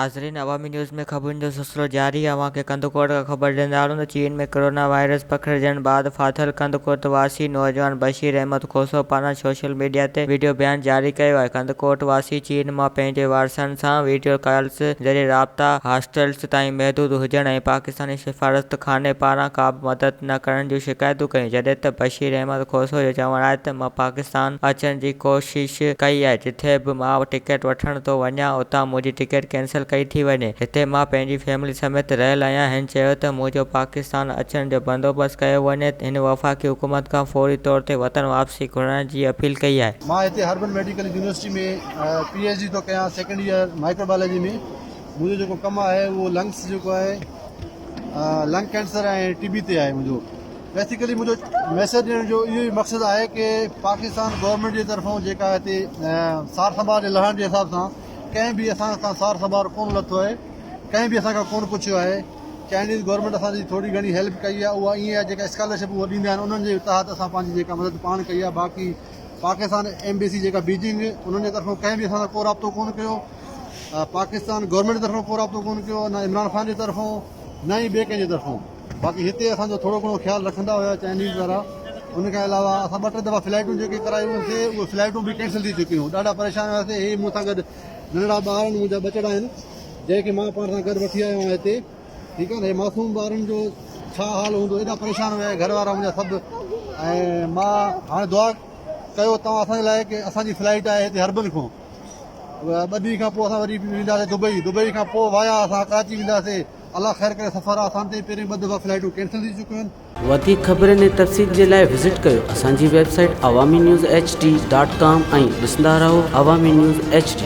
ناظرين عوامي نيوز ۾ خبرن جو سلسلو جاري آهي اوهان کي ڪنڌڪوٽ کان خبر ڏيندارون ته چين ۾ ڪورونا وائرس پکڙجڻ بعد ڦاٿل ڪنڌڪوٽ واسي نوجوان بشير احمد کوسو پاران سوشل ميڊيا تي ويڊيو بيان جاري ڪيو آهي ڪنڌڪوٽ واسي چين مان پنهنجي وارثن سان ويڊيو ڪالز ذريعي رابطا هاسٽلز تائين محدود هجڻ ۽ پاڪستان پاڪستاني سفارتخاني پاران ڪا به مدد نه ڪرڻ جون شڪايتون ڪيون، جڏهن ته بشير احمد کوسو جو چوڻ آهي ته مان پاڪستان اچڻ جي ڪوشش ڪئي آهي، جتي به مان ٽڪيٽ وٺڻ ٿو وڃان، اتان منهنجي ٽڪيٽ ڪينسل ڪئي ٿي وڃي، هتي مان پنهنجي فيملي سميت رهيل آهيان، هن چيو ته منهنجو پاڪستان اچڻ جو بندوبست ڪيو وڃي، هن وفاقي حڪومت کان فوري طور تي وطن واپسي گهرائڻ جي اپيل ڪئي آهي. مان هتي herbal medical university ۾ P H D ٿو ڪيان سيڪنڊ ايئر مائڪرو بايولوجي ۾ منهنجو جيڪو ڪم آهي اهو لنگس جيڪو آهي لنگ ڪينسر ۽ ٽي بي تي آهي منهنجو بيسيڪلي منهنجو ميسج ڏيڻ جو اهو ئي مقصد آهي ڪي پاڪستان گورنمينٽ جي طرفان جيڪا هتي سار سنڀال جي لهڻ جي حساب سان ڪنهن به اسان کان سار سنڀال ڪون لٿو آهي ڪنهن به اسان کان ڪون پڇيو آهي چائنيز گورنمينٽ اسان جي ٿوري گهڻي هيلپ ڪئي آهي اها ائين آهي جيڪا اسڪالرشپ اها ڏيندا آهن انهن جي تحت اسان پنهنجي جيڪا مدد پاڻ ڪئي آهي باقي پاڪستان ايمبيسي جيڪا بيجنگ انهن جي طرفان ڪنهن به اسان سان ڪو رابطو ڪون ڪيو پاڪستان گورنمينٽ جي طرفان ڪو رابطو ڪونه ڪيو نه عمران خان جي طرفان نه ئي ٻئي ڪنهن جي طرفان باقي هتي اسان جو ٿورو گهڻو خيال رکندا هيا چائنيز وارا ان کان علاوه اسان ٻه ٽي دفعا فلائيٽون جيڪي ڪرايون هيونسي اهي فلائيٽون به ڪينسل ٿي چڪيون ڏاڍا پريشان هياسي هي مون سان گڏ ننڍڙا ٻار آهن منهنجا ٻچڙا آهن جنهن کي مان پاڻ سان گڏ وٺي آيو آهيان هتي ٺيڪ آهي نه معصوم ٻارن جو ڇا حال هوندو ايڏا پريشان هيا گهر وارا منهنجا سڀ ۽ مان هاڻي دعا ڪيو توهان اسان جي لاء ڪي اسان جي فلائيٽ آهي هتي هربل کان ٻه ڏينهن کان پوء اسان وري به وينداسين دبئي، دبئي کان پوء وايا اسان ڪراچي وينداسين، الله خير ڪري سفر آ اسان تائين پهريون ٻه دفعا فلائيٽون ڪينسل ٿي چڪيون آهن. وڌيڪ خبرين ۽ تفصيل جي لاء وزٽ ڪيو اسان جي website Awami news H D dot com ۽ ڏسندا رهو عوامي نيوز ايڇ ڊي.